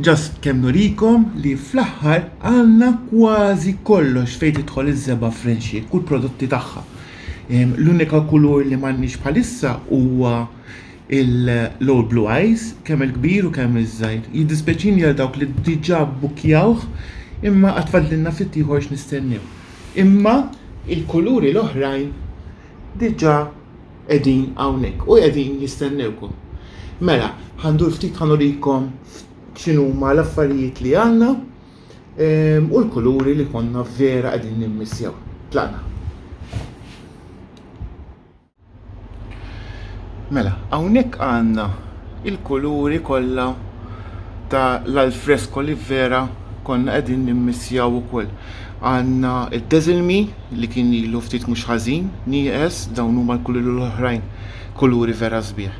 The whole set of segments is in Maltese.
Just kemm nurikom li fl-aħħar għandna kważi kollox fejn tidħol iż-żebgħa Frenxiex u l-prodotti tagħha. Ehm, L-unika kulur li m'għandniex bħalissa huwa il- l-Old Blue Eyes, kemm il-kbir u kemm iż-żgħir. Jiddispjaċini għal dawk li diġà bbukjawh, imma għad fadlilna ftit ieħor x'nistennew. Imma il-kuluri l-oħrajn diġà qegħdin hawnhekk u qegħdin jistennewkom. Mela, ħandur ftit ħanurikom x'inhuma l-affarijiet li għandna ehm, u l-kuluri li konna vera qegħdin nimmissjaw. Tlaqna. Mela, hawnhekk għandna il-kuluri kollha ta' l-alfresko li vera konna qegħdin nimmissjaw ukoll. Għandna d-Dazzle Me li kien ilu ftit mhux ħażin nieqes, dawn huma l-kuluri l-oħrajn, kuluri vera sbieħ.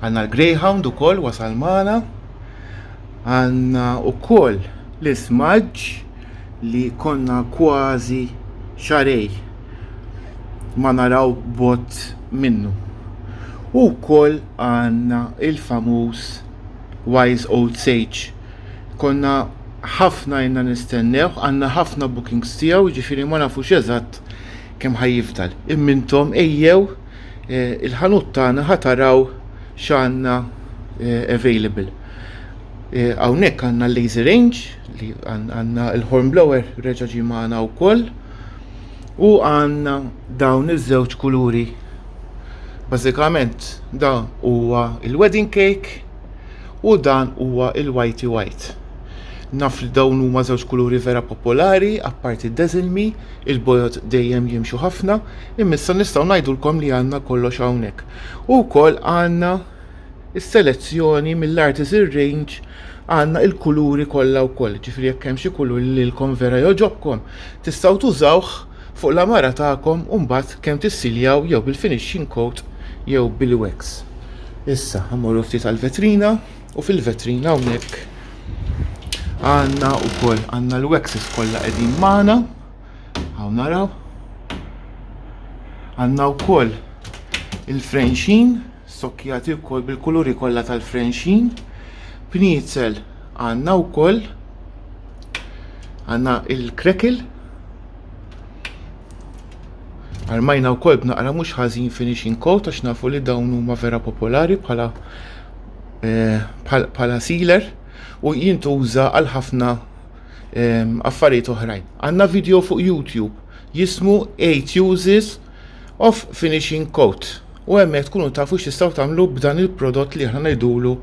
Għandna l-Greyhound ukoll wasal magħna. Għandna wkoll l-ismaġġ li konna kważi xarej ma naraw bot minnu. U wkoll għandna il-famuż Wise Old Sage Konna ħafna jenna nistennewh, għandna ħafna bookings tiegħu, ġifieri ma nafux eżatt kemm ħa jifdal. Imma intom ejjew eh, il-ħanut tagħna ħa taraw x'għandna eh, available. Eh, hawnhekk għandna l-laser range li għandna l-horn blower reġa' ġie magħna wkoll u għandna dawn iż-żewġ kuluri. Bażikament da huwa il-wedding cake U dan huwa il-whitey white. Naf li dawn huma żewġ kuluri vera popolari, apparti d-deżilmi, il-bojod dejjem jimxu ħafna, imissa nistgħu ngħidulkom li għandna kollox hawnhekk. U wkoll għandna is-selezzjoni mill-Artisan Range għandna il-kuluri kollha wkoll, ġifri jekk hemm xi kulur li lilkom vera joġobkom, tistgħu tużawh Fuq l-għamara tagħkom u mbagħad kemm tissiljaw jew bil-finishing coat jew bil-wax. Issa ħammorru ftit għall-vetrina u fil-vetrina hawnhekk għandna wkoll għandna l-waxes kollha qegħdin magħna. Hawn naraw. Għandna wkoll il-frenxin sokkjati wkoll bil-kuluri kollha tal-frenxin. Pniezel għandna wkoll għandna il-krekil Armajna wkoll b'naqra mhux ħażin finishing coat għax nafu li dawn huma vera popolari bħala eh, bħala sealer u jintuża għal ħafna ehm, affarijiet oħrajn. Għandna video fuq YouTube jismu 8 uses of finishing coat u hemmhekk tkunu tafu x'tistgħu tagħmlu b'dan il-prodott li aħna ngħidulu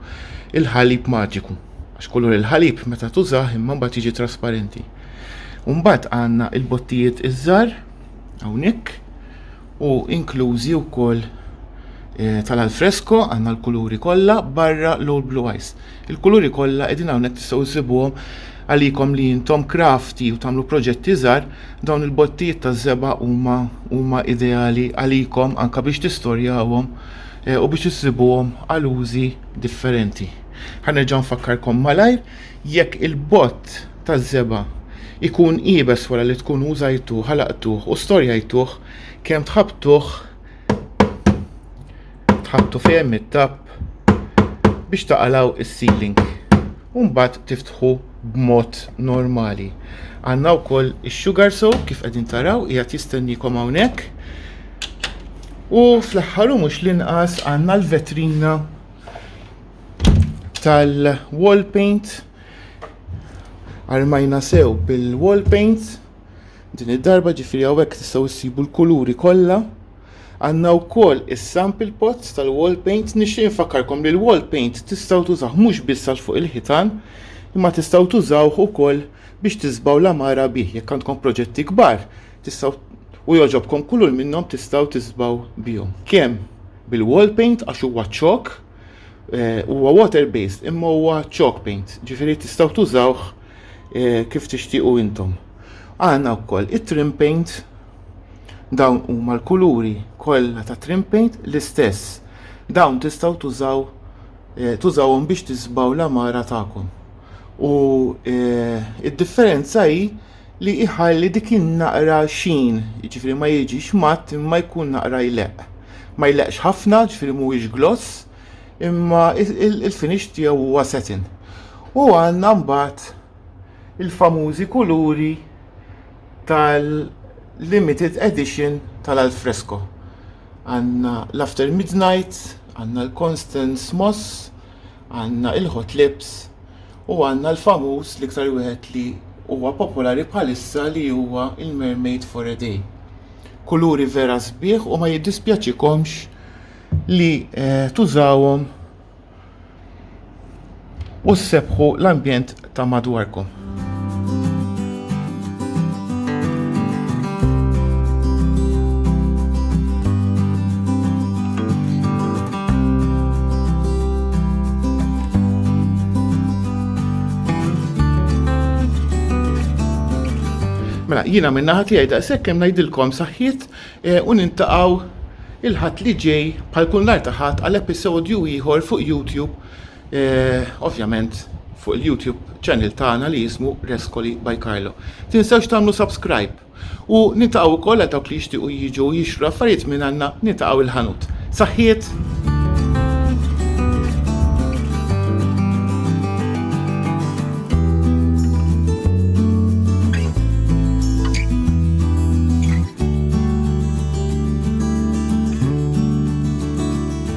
il-ħalib maġiku. Għax kollu il-ħalib meta tużah imma mbagħad jiġi trasparenti. U mbagħad għandna il-bottijiet iż-żgħar hawnhekk u inklużi wkoll eh, tal-alfresko għandna l-kuluri kollha barra l-old blue eyes. Il-kuluri kollha qegħdin hawnhekk tistgħu ssibuhom għalikom li jintom krafti u tagħmlu proġetti żgħar, dawn il-bottijiet ta' żeba huma huma ideali għalikom anka biex tistorjawhom eh, u biex issibuhom għal użi differenti. Ħanerġa' nfakkarkom malajr Jekk il-bott taż-żebgħa jkun iebes wara li tkun użajtuh, ħalaqtuh u storjajtuh, kemm tħabbtuh tħabbtu fejn hemm it-tapp biex taqalgħu s-sealing u mbagħad tiftħu b'mod normali. Għandna wkoll ix-sugar soap kif qegħdin taraw qiegħed jistennikom hawnhekk. U fl-aħħar u mhux l-inqas għandna l-vetrina tal-wall paint armajna sew bil-wall paint din id-darba ġifiri għawek tistaw issibu l-kuluri kolla għanna u koll il-sample pots tal-wall paint nixtieq nfakkarkom li l-wall paint tistaw tużaw mux bissal fuq il-ħitan imma tistaw tużaw u koll biex tizbaw la mara bih jekk għandkom proġetti kbar tistaw u joġobkom kulur minnom tistaw tizbaw bihom. Kem bil-wall paint għax huwa ċok Eh, huwa water based imma huwa chalk paint, ġifieri tistgħu tużawh eh, kif tixtiequ intom. Għandna wkoll it-trim paint dawn huma l-kuluri kollha ta' trim paint l-istess. Dawn tistgħu tużaw eh, tużawhom biex tisbaw l-amara tagħkom. U id-differenza hi li jħalli dik in-naqra xeen, jiġifieri ma jiġix matt imma jkun naqra jleqq. Ma jleqqx ħafna, jiġifieri mhuwiex gloss, imma il-finish tiegħu huwa satin. U għandna mbagħad il-famużi kuluri tal-limited edition tal-alfresco. Għandna l-after midnight, għandna l-Constance Moss, Għandna il-hot lips u għandna l-famuż l-iktar wieħed li huwa popolari bħalissa li huwa il-mermaid for a day. Kuluri vera sbieħ u ma jiddispjaċikomx li eh, tużawhom u ssebħu l-ambjent ta' madwarkom. Mela, jina minna ħati għajda, sekkem najdilkom saħħit eh, u nintaqaw il-ħat li ġej pal kun l-artaħat għal episodju ieħor fuq YouTube ovvjament fuq il-YouTube channel tagħna li jismu Rescoli by Carlo. Tinsewx tagħmlu subscribe. U nitaqgħu wkoll għal dawk li jixtiequ jiġu jixtru affarijiet minn għandna nitaqgħu il-ħanut. Saħħiet!